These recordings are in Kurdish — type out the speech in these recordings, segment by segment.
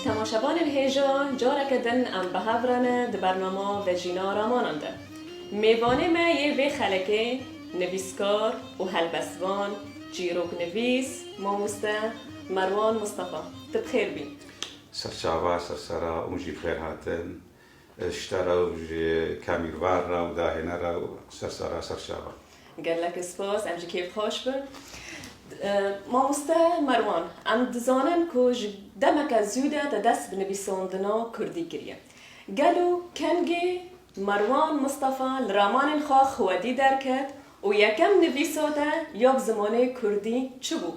Temaşevanên hêjan careke din em bi hev re ne di bernama Vejîna Ramanan de. Mêvanê me yê vê xelekê nivîskar û helbestvan, çîroknivîs, mamoste Merwan Mistefa. Tu bi xêr bî. Serçava, sersera û jî bixêr hatin. Şita re û ji kamîrvar re û dahêne re û sersera serçava. Gelek spas, em jî kêf xweş bin. Mamoste Merwan, em dizanin ku ji demeke zûde te dest bi nivîsandina kurdî kiriye. Gelo kengê Merwan Mistefa li ramanên xwe xwedî derket û yekem nivîsa te ya bi zimanê kurdî çi bû?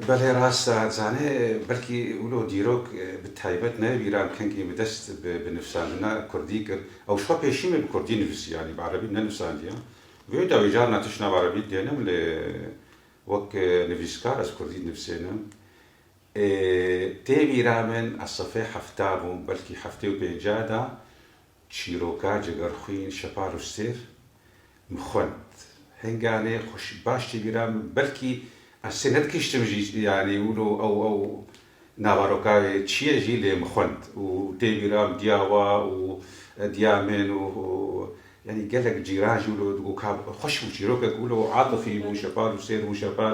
Belê rast e, zanê belkî wilo dîrok bi taybet ne Vîran Kengî bi dest bi nivîsandina kurdî kir. Ew şiva pêşîmê bi kurdî nivîsî yanî bi erebî nenivîsandiya. Vê dawî car na tişt na bi erebî dênim lê wek nivîskar ez kurdî dinivîsênim. Ê tê Vîran min ez sefê hefta bûm belkî heftê û pêncah da Çîroka Cegerxwîn Şeparûşsêr min xwend. Henganê xwe baş tê bîra min belkî ez sê nedikiştim jî yanî wilo ew ew nava roka wê çi ye jî lê min xwend û tê bîra min diya wa û diya min û yanî gelek cîran jî wilo digot ka xweş bû çîrokek wilo atifî bû Şeparûşsêr bû Şepar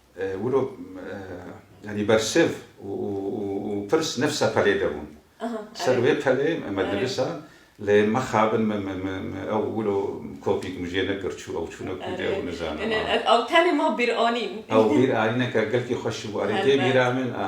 Wilo yanî bersiv û pirs ne ser pelê de bûn. Ser wê pelê me dinivisa lê mexabin ew wilo kopîk min jê nekir çû ew çûne ku de ew nizanin. Ew tenê ma bîranîn. Ew bîranîne ka gelkî xweş bû. Erê tê bîra min a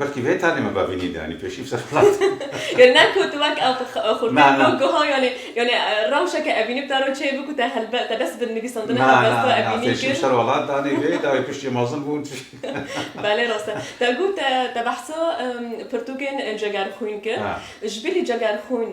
Belkî vê tanê me bavînî de pêşî bi ser xelat. Yanî ne ku tu wek ew xurtî ku guha yanî yanî rewşeke evînî bi te re çê bû ku te helbe te bes bi nivîsandine helbest xwe evînî kir. Pêşî bi ser xelat danî vê dawî piştî mezin bûn. Belê rast e. Te got te behsa pirtûkên cegerxwîn kir. Ji bilî cegerxwîn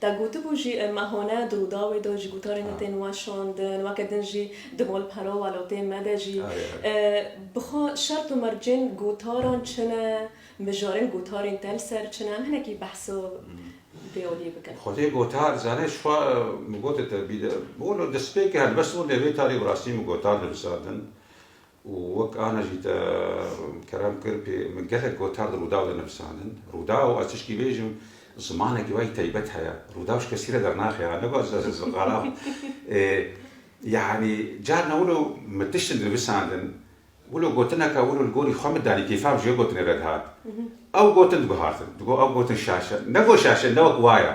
Te gotibû jî me hone di Rûdawê de jî gotarên te tên weşandin, weke din jî di malpera welatê me de jî. Bi xwe şert û mercên gotaran çi ne, mijarên gotarên te li ser çi ne? Em hinekî behsa vê aliyê bikin. Xwedê gotar zane ji xwe min gote te bî de wilo destpêk e helbest wilo vê tarî bi rastî min gotar divisandin. Û wek ana jî te kerem kir pê min gelek gotar di Rûdaw de nivisandin. Rûdaw, ez tişkî bêjim, zimanekî wayî taybet heye. Rûdaw ji kesî re dernaxe ya, ne ku ez ji ez xerab ê. Yanî carna wilo min tiştin nivisandin, wilo gotineka wilo li gorî xwe min danî kêfa min ji wê gotinê re dihat. Ew gotin diguhartin, digot ew gotin şaş e. Ne ku şaş e, ne wek wa ye.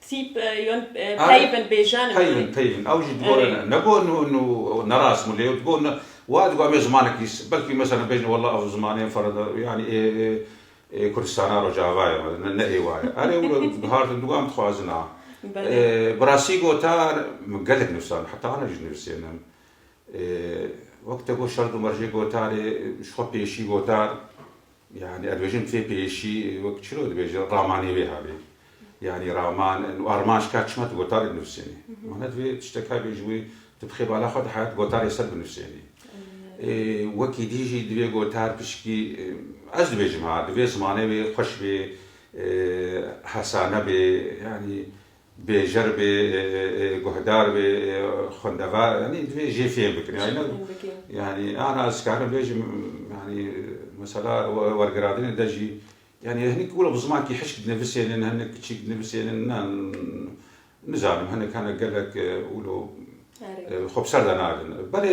Tîp yon peyvin bêjin. Peyvin peyvin ew jî digot ne got nerast bû lê digot ne wa digot em ê zimanekî belkî meselen bêjin wela ev zimanê ferensa yanî ê ê Kurdistana Rojava ye me ne ê wa ye. Erê wilo dihartin digot em dixwazin a. Bi rastî gotar min gelek nivîsand heta ana jî nivîsên em wek te got şert û mercê gotarê ji xwe pêşî gotar. Yanî ez dibêjim fê pêşî wek çilo dibêjin ramanê wê havê. Yanî raman û arman ji ka çima tu gotar dinivîsênî. Mana divê tiştek hebê ji wê tu bi xêbala xwe de heyat gotarê ser binivîsênî. Wekî dî jî divê gotar pişkî ez dibêjim ha divê zimanê wê xweş bê, hesane bê. Yanî Bêjer bê, guhdar bê, xwendevar yanî divê jê fêm bikin. Yanî ana ez karim bêjim yanî mesela wergiradinê de jî yanî hinek wilo bi zimankî hişk dinivisênin, hinek kiçîk dinivisênin na nizanim hinek hene gelek wilo xwe bi ser de nadin. Belê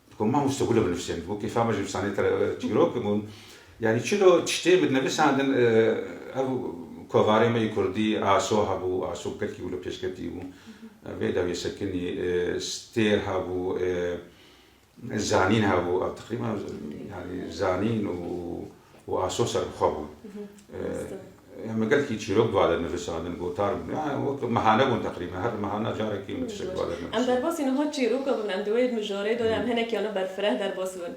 Di ku ma mûste gule binivsên, di ku kêfa me ji nivîsanê te re çîrok bûn. Yanî çilo tiştê min dinivîsandin, ev kovarê me yê kurdî Aso hebû, Aso gelkî wilo pêşketî bû. Vê dawiyê sekinî stêr hebû, zanîn hebû. Ev teqrîben yanî zanîn û. û aso serbixwe bûn. Em li gel kî çîrok duwa dernivîsandin, gotar bûn. Ya wek mehane bûn teqrîben. Her mehana carekî min tiştek duwa dernivîsandin. Em derbasî niha çîroka bûn. Em di wê mijarê de em hinekî ana berfireh derbas bûn.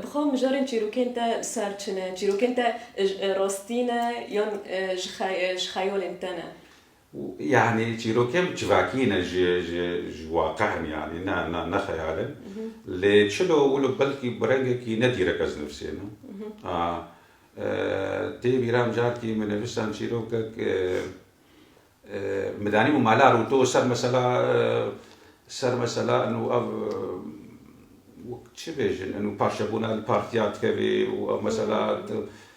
Bi xwe mijarên çîrokên te ser çi ne? Çîrokên te rastî ne yan ji xeyalên te ne? û yanî çîrokên bi çivakî ne ji ji ji waqih in yanî ne ne ne xeyal in lê çilo wilo belkî bi rengekî ne dîrek ez nivîsêne a tê bîra min carkî min nivîsan çîrokek min danî bû mala rûto ser mesela ser mesela û ev çi bêjin û parçebûna li partiya dikevê û ew mesela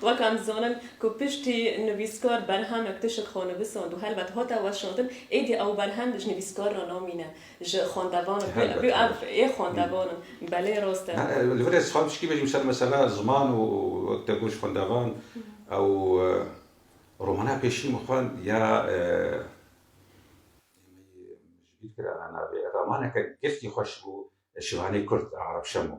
Weka nizanin ku piştî nivîskar berhemek tişik xwe nivisand û helbet hate weşandin, êdî ew berhem ji nivîskar re namîne, ji xwendevanan pê re bû. Ev ê xwendevan in. Belê rast e. Li vir e dixwazim piştgî bêjim ser mesela ziman û wek te got ji xwendevan ew romana pêşî min xwend ya ji bîr kir ana navê romaneke giftî xweş bû Şivanê Kurd a Arap Şemo.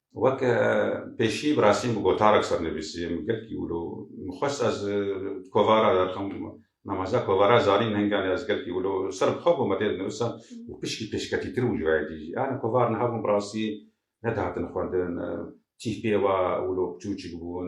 Wek pêşî bi rastî bi gotarek sernivîsî em gelkî wilo mixwest ez kovara derxim namaza kovara zanîn henganê ez gelkî wilo ser bi xwe bûm tê dinivisa û pişkî pêşketîtir bû ji we yekî jî yani kovar niha bûn bi rastî nedihatin xwendin tîh pê wa wilo piçûçik bûn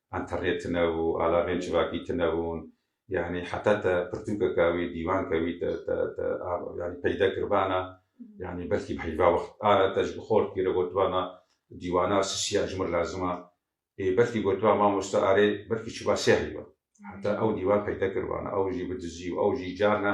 Enterê tune û alagên civakî tune hûn. Yanî heta te pirtûkeke wî, dîwanke wî te te yanî peyde kiribana, yanî belkî bi heyva wext ara te ji bi xortî re gotibana dîwana sisiya ji min lazim a. Ê belkî gotiba mamoste arê belkî çûba sê heyva. Heta ew dîwan peyde kiribana, ew jî bi dizî û ew jî carna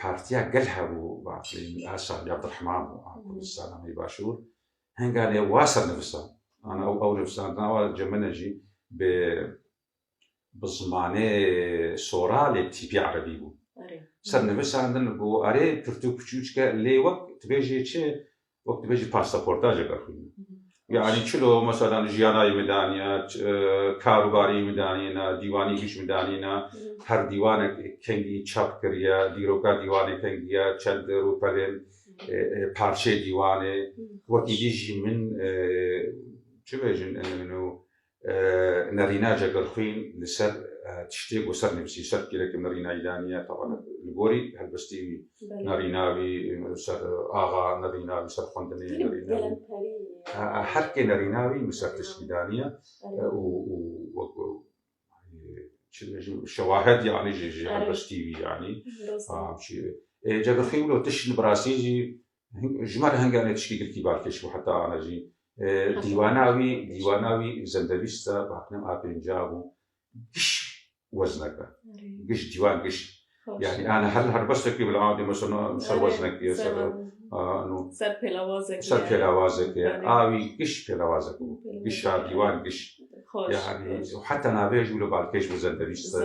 Partiya Gel hebû Baqlîn û her Şahrî Abdurehman û a Kurdistana nê Başûr henganê wa ser nivisan. Ana ew ew nivisandina wa ji min e jî bi bi zimanê sora lê tîpî erebî bû. Ser nivisandin ku erê pirtûk çûçke lê wek tu bêjî çi Wek tu bêjî pasaportajeke xwîna. Yani çilo mesela jiyanayî min daniya, karûbarî min danîna, dîwanî hîç min danîna, her dîwanek kengî çap kiriye, dîroka dîwanê kengî ye, çend rûpelên parçeyê dîwanê, wekî dî jî min çi bêjin Nerîna Cegelxwîn li ser tiştê ku ser nivîsî, ser pîrekê min rînayî daniye, taban li gorî helbestî wî, nerîna wî li ser axa, nerîna wî ser xwendinê, nerîna wî her kê nerîna wî min ser tiştî daniye û wek çi dibêjim şewahed yanî jî ji helbestî wî yanî. Ê Cegelxwîn wilo tişt li birastî jî Ji ber henge me tiştî girtî balkêş bû heta ana jî dîwana wî dîwana wî zendevîst e bi hakna a pêncî bû giş wezneke giş dîwan giş yani ana her her bestekî bila dê mesela ser weznek diye ser ser pêlawazek ser pêlawazek a wî giş pêlawazek bû gişa dîwan giş yani heta navê jû li balkêş bi zendevîst e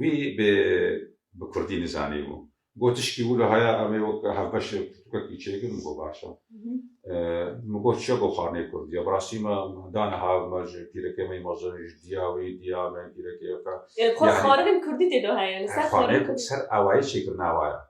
Wî bi bi kurdî nizanîbû. Got tişkî wilo haya em ê wek hevbeş pirtûkekî çêkin min got baş e. Min got çiya got xaneyê kurdî ye. Bi rastî me da niha me ji pîrekê me yî me zanîn ji diya wî diya me pîrekê ye. Xwe xaneyên kurdî tê de heye li ser xaneyên kurdî. Ser awayê çêkirina wa ye.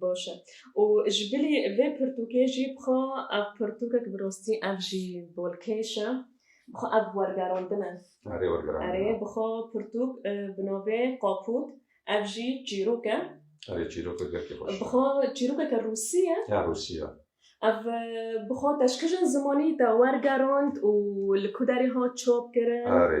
Baş e. Û ji bilî vê pirtûkê jî bixwe ev pirtûkek bi rastî ev jî bolkêş e. Bixwe ev wergerandin e. Erê wergerandin e. Erê bixwe pirtûk bi navê Kapût ev jî çîrok e. Erê çîrokek gelkî xweş e. Bixwe çîrokeke rûsî ye. Ya rûsî ye. Ev bixwe teşkijin zimanî te wergerand û li ku derê hat çap kirin? Erê.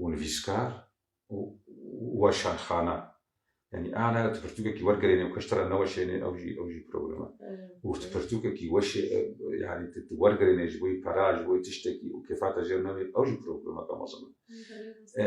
û nivîskar û weşanxana. Yanî ana tu pirtûkekî wergerênê û kişt re neweşênê ew jî ew jî problem e. Û tu pirtûkekî weşê yanî tu tu wergerênê ji bo pera ji bo tiştekî û kêfa te jêr nebe ew jî problemeke mezin e.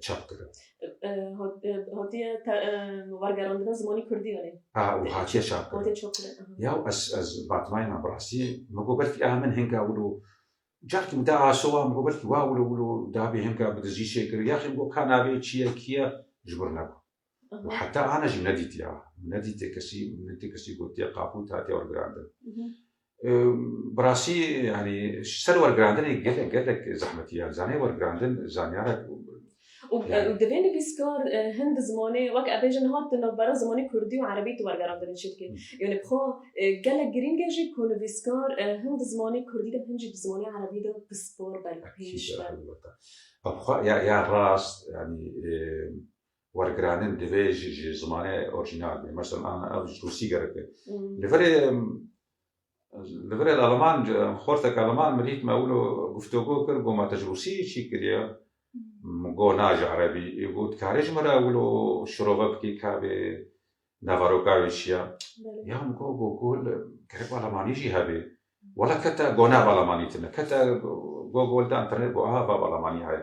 çap kirin. Hotiye wergerandina zimanî Kurdî welê. A û hatiye çap kirin. Hotiye çap kirin. Ya û ez ez batmayê me bi rastî me got belkî a min hinga wilo carkî da asowa min got belkî wa wilo wilo dabê hinga bi dizî çêkirî yaxî min got ka navê çi ye kî ye ji bin ne bû. û heta ana jî nedîtiya min nedîtiye kesî min nedîtiye kesî gotiye qapût hatiye wergirandin. Bi rastî yanî ser wergirandinê gelek gelek zehmetî ye zanê wergirandin zanyara û divê nivîskar hin di zimanê wek ev bêjin niha di navbera zimanê kurdî û erebî tu wergerandinê çi dikê yanî bi xwe gelek girîng e jî ku nivîskar hin di zimanê kurdî de hin jî di zimanê erebî de pispor be li pêş be. Ew xwe ya ya rast yanî wergiranin divê jî ji zimanê orîjînal bê. Mesela ev ji rûsî gerek e. Li virê li virê li aliman xorteke aliman min dît me wilo guftogo kir got ma te ji rûsî çî kiriye? Min got na ji erebî. Ê got dikarî ji min re wilo şirove bikî ka vê neveroka wê çi ye? Ya min got Gogol gerek alamanî jî hebe. Wela kete got na ev alamanî tune. Kete Gogol de internet got aha ev alamanî heye.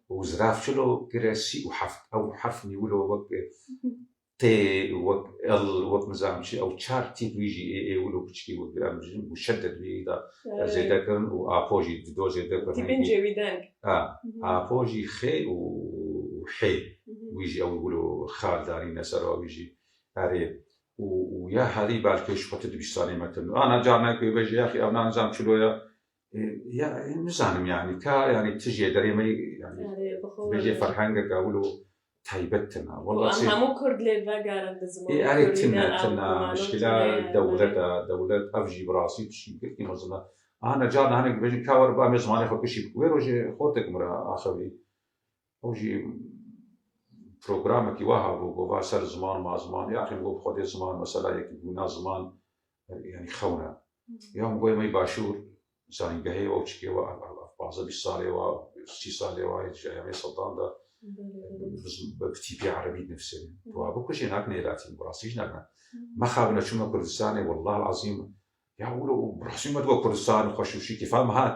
û zirafçilo gire sî û heft ew herf nîwilo wek T wek L wek nizanim çi ew çar tîp wî jî ê ê wilo piçikî wek em dijîn muşedded wî da zêde kirin û apo jî di do zêde kirin Tîpên cêwîdeng a apo jî X û H wî jî ew wilo xal danîne ser a wî jî erê û û ya herî belkê ji xwe ti dibîstanê me kirino ana carnayê ku ê bejî yexî ew na nizanim çilo ye nizanim yanî ka yanî tu jê derê me bêjê ferhengeke wil û taybet tine hemû kurd lê vegerin di ziman erê tine tine mişkila dewleta dewlet ev jî bi rastî tu şî girtî mezina ana ca nihanek dibêjin ka were ba em ê zimanê xwe kişî wê rojê xotek min ra axivî ew jî programekî wa hebû gova ser ziman ma ziman ya axê min got xwedê ziman mesela yekî bûna ziman yani xewna ya min goya mey başûr zanîngehê wa çikê wa panzdeh bîst salê wa sî salê wa ji eyamê Seddam de bi tîpî erebî dinivîsîne wa bikujê nak nêlatî bi rastî jî nakna mexabine çûme Kurdistanê wellahil ezîm ya wilo rastî me diwa Kurdistan xweş û şî kêfa min hat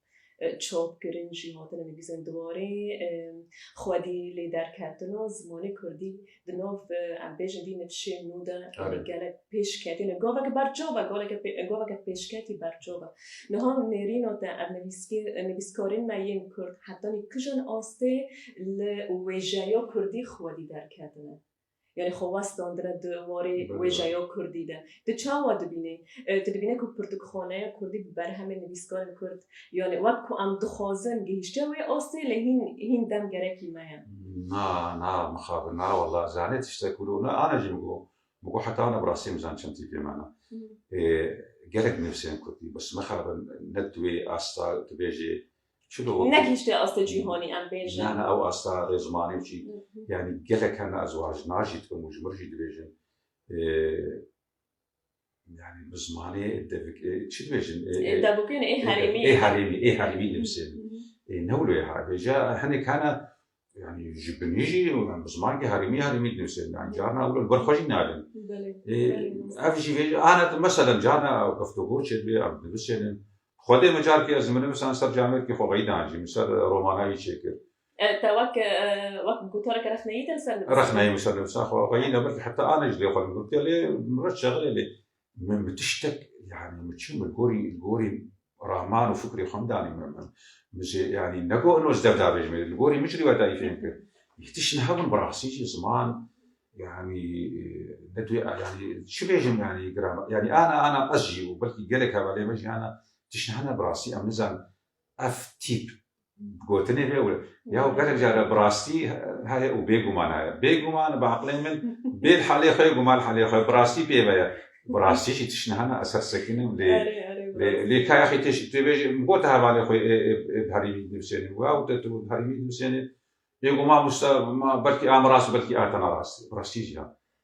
Çop kirin jî hatine nivîsên di warê xwedî lê derketino zimanê kurdî di nav em bêjin vî nivşên nû de gelek pêş ketine gaveke berçav e gaveke pêşketî berçav e niha nêrîna te ev nivîskarên me yên kurd hetanî kijan astê li wêjeya kurdî xwedî derketine Yanî xwe west dandine di warê wêjeya kurdî de. Tu çawa dibînî? Tu dibînî ku pirtûkxaneya kurdî bi berhemên nivîskarên kurd yanî wek ku em dixwazin gihîşte wê astê lê hîn hîn dem gerekî me ye. Na, na mixabin na wela zanê tiştek ku rû ne ane jî min got. Min got heta ane bi rastî nizan çend tîpê me ne. Gelek nivîsên kurdî bes mixabin ne di wê asta tu bêjî Nekişte asta cîhanî em bêjin. Ne ne ew asta rê zimanê û çî yanî gelek hene ez wan ji nan jî dikim û ji min jî dibêjin yanî bi zimanê devik çi dibêjin devokên ê herêmî ê herêmî ê herêmî nivîsê ê ne wilo ya bêje hinek hene Yani ji binî jî bi zimankî herêmî herêmî dinivîsêdin. Yani carna ew li ber xwe jî nadin. Ev jî vê ana tu meselen carna ew keftogor çêdibê ew dinivîsêdin. Xwedê min carkê ez min nivisan ser camêrkî xwe veyî danjî min ser romana wî çêkir. Te wek wek gotoreke rexneyî te li ser nivîsî? Rexneyî min ser nivîsa xwe veyî ne belkî heta ana jî lê xwe li min gotiye lê min reş çexirê lê Min bi tiştek yanî min çi min gorî gorî raman û fikrê xwe danî min min min jê yanî negot ino ji dev davêjim ê li gorî min jî rîwayetayî fêm kir. Yê tişt ne hebin bi rastî jî ziman yanî ne tu yanî çi bêjim yanî grama yanî ana ana ez jî û belkî gelek hevalên me jî ana tişt hene bi rastî em nizanin Ev tîp gotinê heye û ya û gelek care bi rastî heye û bêguman heye. Bêguman bi eqlê min bêl helê xwe ye û mal helê xwe ye. Bi rastî pê ve ye. Bi rastî jî tişt niha ne ez her sekinîm lê lê ka yexî tê jî tê vê jî min gote hevalê xwe yê ê bi herî vî nivîsênê û ew te tu bi herî vî nivîsênê. Bêguman wisa ma belkî a min rast û belkî a te ne rast e. Bi rastî jî ya.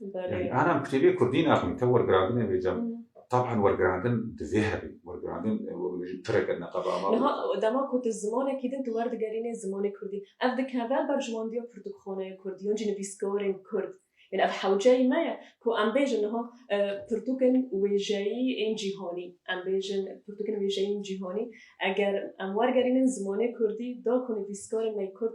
Yani anan kitêbê kurdî naxwîn te wergirandinê vê cem taban wergirandin divê hebî wergirandin pireke neqeba ma. Niha dema ku tu zimanekî din tu werdigerînê zimanê kurdî ev dikeve ber ji wan diya pirtûkxaneya kurdî yan jî nivîskarên kurd. Yani ev hewceyî me ye ku em bêjin niha pirtûkên wêjeyî ên cîhanî em bêjin pirtûkên wêjeyî ên cîhanî eger em wergerînin zimanê kurdî da ku nivîskarên me kurd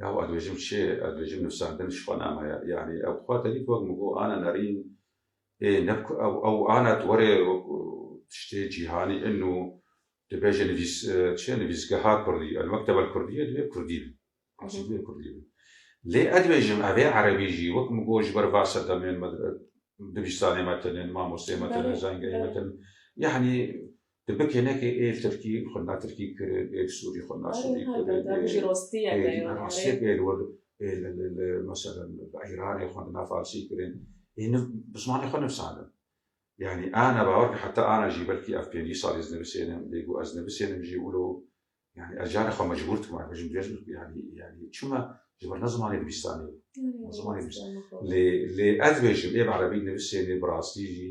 Yaw ez dibêjim çi? Ez dibêjim nûsandin ji xwe name ye. Yanî ew xwe tevî ku wek min got Ana Nerîn ê ne ku ew ew Ana tu were wek tiştê cîhanî in û tu bêje nivîs çi nivîsgeha kurdî El-Mekteb El-Kurdîye divê kurdî be. Asê divê kurdî be. Lê ez dibêjim ev ê erebî jî wek min got ji ber va sedemên me dibistanê me tune, mamosteyê me tune, zengeyê me tune. Yanî Tu bikênekê ê tirkî xwe na tirkî kirin, ê sûrî xwe na sûrî kirin, ê rastiyek ê li wir ê li li meselen li Îranê xwe na farsî kirin, ê niv bi zimanê xwe nivisandin. Yanî ana bawer ke heta ana jî belkî ev pêncî sal ez nivisênim, bêgo ez nivisênim jî wilo yanî ez carê xwe mecbûr dikim ev bêjim bêjim yanî yanî çima ji ber ne zimanê dibîstanê ye. Ne zimanê dibîstanê ye. Lê lê ez dibêjim ê bi erebî nivisênê bi rastî jî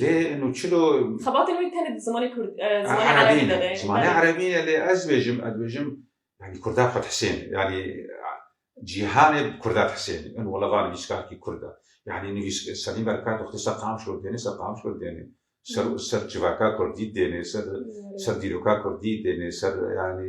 Lê nu çilo Xebatên wê tenê di zimanê kurd zimanê erebî de ne. Zimanê erebî ne lê ez bêjim ez bêjim yani kurda xwe dihsên yani cîhanê bi kurda dihsên in wala va nivîskarkî kurd e. Yani nivîs Selîm Berkar dixwite ser Qamişlo dêne ser Qamişlo dêne. Ser ser civaka kurdî dêne ser ser dîroka kurdî dêne ser yani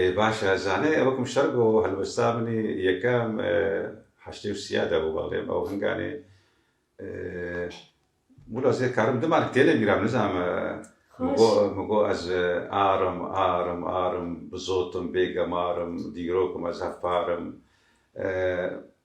Ê baş e, zanê ew kum şer go helwesta min ê yekem heştê û sîya de bû bexlê ew hinganê mûla zê karim dima li têlê bîra min nizanim min go min go ez arim arim arim bi zot im bê gemar im dîrok im ez hevpar im.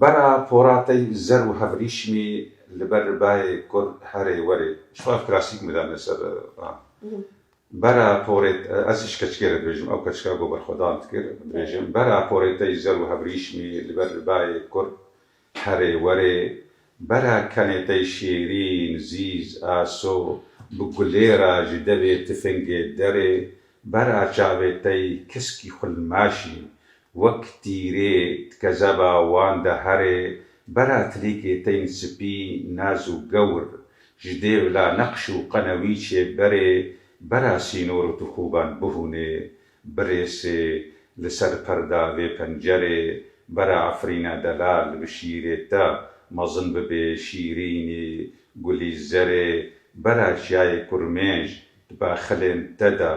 Bara poratey zer û hevrîşmî li ber bayê kur herê werê. Şwar klasîk mi dane ser a. Bara porê ez ji keçikê re dibêjim, ew keçika ku berxwedan dikir, dibêjim, Bara porê te yî zer û hevrîşmî li ber bayê kur herê werê, Bara kenê te yî şêrîn, zîz, aso, bi gulê ra ji devê tifingê derê, Bara çavê te yî kiskî xulmaşî, Wek tîrê dikeceba wan de herê bera tilîkê tên sipî naz û gewr, ji dê vila neqş û qenewîçê berê bera sînor û tixûban bihûnê, birêsê, li ser perda vê pencerê bera efrîna delal bi şîrê te mezin bibê şîrînî, gulî zerê bera çiyayê kurmêj di baxilên te de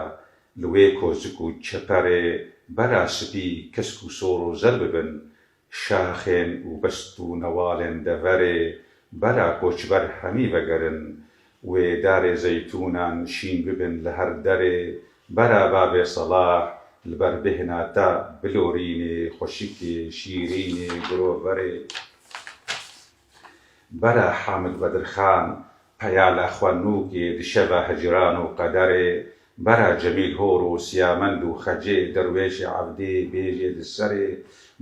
Li wê koşik û çeperê bera spî kesk û sor û zer bibin, şaxên û best û newalên deverê bera koçber hemî vegerin. Wê darê zeytûnan şîn bibin li her derê bera Babê Selah li ber bêhna ta bilorînê, xweşikê, şîrînê, guroverê. Bere Hamid Vedirxan, Peyala Xwenûkê, Dişeva Hicran û Qederê, Bere Cemîl Hor û Siyamend û Xecê, Derwêşê Evdê, Bêjê di serê,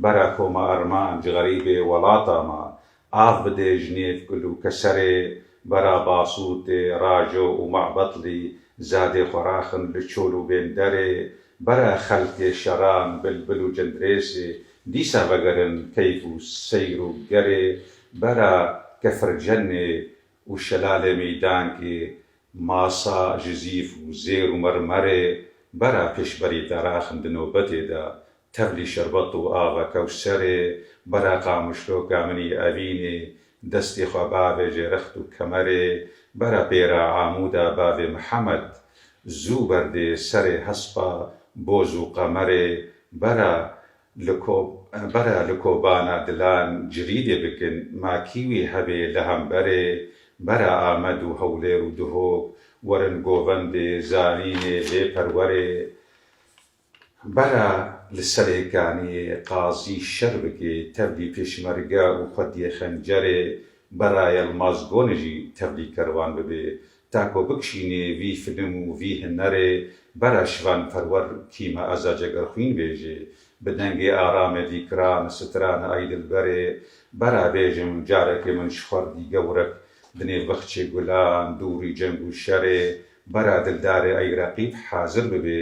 Bere Koma Erman, Cixerîbê Welata ma, Av bidê ji nêv Gul û Keserê, Bere Basûtê, Rajo û Mabetlî, Zadê xwe raxin li Çol û Bênderê, Bere Xelkê Şeran, Bilbil û Cindirêsê, Dîsa vegerin keyf û seyr û gerê bera Kefircennê û Şelalê Mîdankê, Masa, Jizîf û Zêr û Mermerê bera pêşberî Daraxn di nobetê de, Tevlî Şerbet û Ava Kewserê bera Qamişlo Kaminî Evînê Destê xwe bavê jê rext û kemerê bera pêra amûda bavê Mihemed, zû berdê serê hespa boz û qemerê bera li ko bera li kobana dilan cirîdê bikin, ma kî wî hebê li hemberê bera Amed û Hewlêr û Duhok werin govendê zanînê lê perwerê. Bera li serê ganiyê qazî Şerbikê tevlî pêşmerge û xwediyê xencerê Bera Yelmaz Gonê jî tevlî kerwan bibê. Ta ku bikişînê vî film û vî hinerê Bera Şivan Perwer kîma eza cegerxwîn bêjê. Bi dengê aramê dîkiran, strane Ay dilberê Bera bêjim carekê min ji xwerdî gewrek di nêv bexçê gulan, dûrî ceng û şerê Bera dildarê Ay reqîb hazir bibê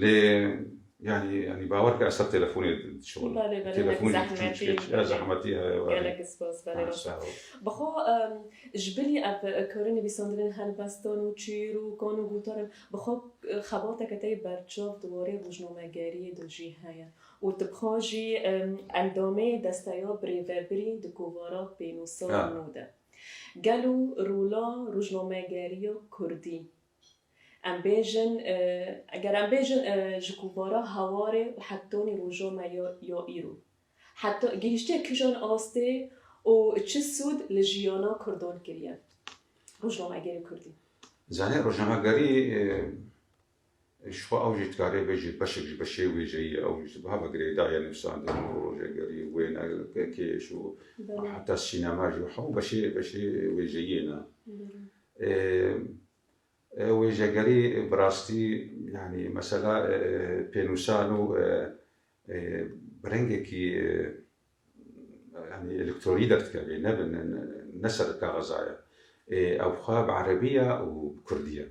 Lê yanî yanî bawer bike ez ser telefonê dişinim. Belê belê Telefonê belê çû zehmetî çû belê. zehmetî ye belê. Gelek spas belê Ha, baş. sağ ol. Bi xwe em, ji bilî ev karê nivîsandinên helbestan û çîr û kan û gotar in bi xwe eh, xebateke te yê berçav di warê rojnamegeriyê de jî heye û tu bi xwe jî em, endamê desteya birêvebirî di kovara pênûsa Ha. nû de. Gelo rola rojnamegeriya kurdî Em bêjin, eger em bêjin ji kovara hawarê û heptonî roja me ya ya îro heta gihîştiye kijan astê û çi sûd li jiyana kurdan kiriye rojnamegerê kurdî? Zanîn rojnamegerî jixwe ew jî dikarê bêje beşek ji beşê wêjeyî ye, ew jî ji biha ve girêdayî ye, nivîsandin û rojegerî û wêne pêkêş û heta sînema jî hemû beşê beşê wêjeyî ye ne. Wêjegerî bi rastî yanî mesela pênûsan û bi rengekî yanî elektorî derdikeve ne bi ne ser kaxiza ye. Ew xwe bi erebî ye û bi kurdî ye.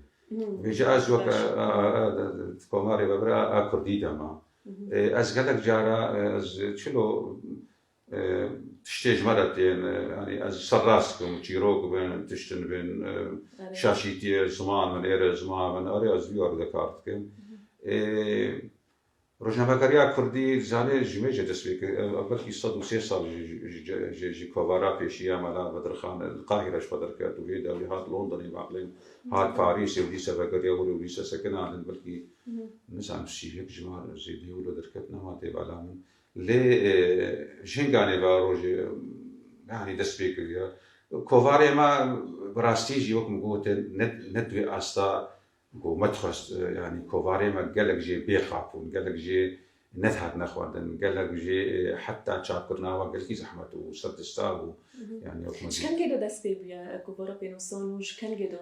Vê jî ez wek di komarê me bira a kurdî de ma. Ez gelek cara ez çilo Tiştê ji me re tên, yanî ez serrast bikim, çîrok bin, tiştin bin, şaşîtiyê ziman bin, êrê ziman bin, erê ez vî erdê kar dikim. Ê rojnamegeriya kurdî zanê ji wê jê dest pê kir, ev belkî sed û sê sal jî ji kovara pêşî ya Mela Bedirxan li Qahîre ji xwe derket û hê dawî hat Londonê baqlên hat Parîsê û dîsa vegeriya wir û dîsa sekina din belkî nizanim sî yek ji wan zêdeyê wir derket nema tê bala min. Lê jin ganê va rojê yanî dest pê kiriye. Kovarê me bi rastî jî wek min got e ne di wê asta ku me dixwest yanî kovarê me gelek jê bê qap bûn, gelek jê nedihatine xwendin, gelek jê heta çapkirina wan gelkî zehmet û serdista bû. Ji kengê de dest pê bûye kovara pênosan û ji kengê de?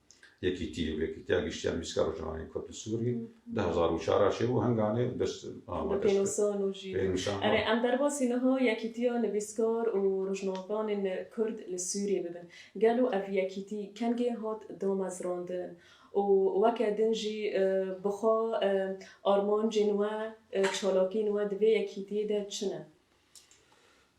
Yekîtî û Yekîtiya Giştî ya Nivîskar û Jihanê Kurd û Sûrî di hezar û çar a çêbû henganê dest bi pênûsan û jî erê em derbasî niha Yekîtiya Nivîskar û Rojnamevanên Kurd li Sûrî bibin. Gelo ev yekîtî kengê hat damezrandin û weke din jî bi xwe armancên we, çalakiyên we di vê yekîtiyê de çi ne?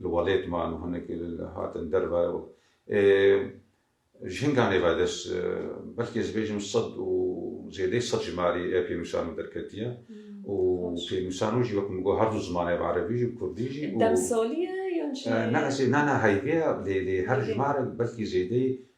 Li welêt man û hinek hatin derve û ê jinga nêvedest belkî ez bêjim sed û zêdeyî sed ji malê ê pênûsan û derketiye û pênûsan û jî wek min got her du ziman hebe erebî jî û kurdî jî û Demsolî ye yan çi ye? Na ez ê na na heyvê ye lê lê her ji malê belkî zêdeyî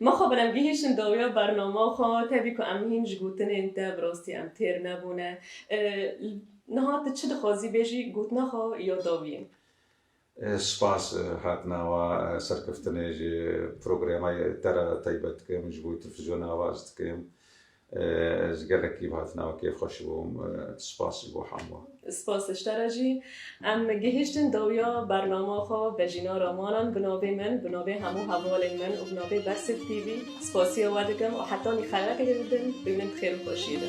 Ma xwe bile gihîşin dawiya bernama xwe, tevî ku em hîn ji gotinên te bi rastî em têr nebûne. Niha tu çi dixwazî bêjî gotina xwe ya dawiyê? Spas hatina wan serkeftinê ji programa te re taybet dikim, ji bo telfizyona ava ez dikim. Ez gelekî bi hatina we kêfxweş bûm. Spas ji bo hemû. Spas ji te re jî. Em gihîştin dawiya bernama xwe Vejîna Ramanan bi navê min, bi navê hemû hevalên min û bi navê Bersif TV spasiya we dikim û heta nîxelekê dê bibin bimînin bi xêr û xweşiyê de.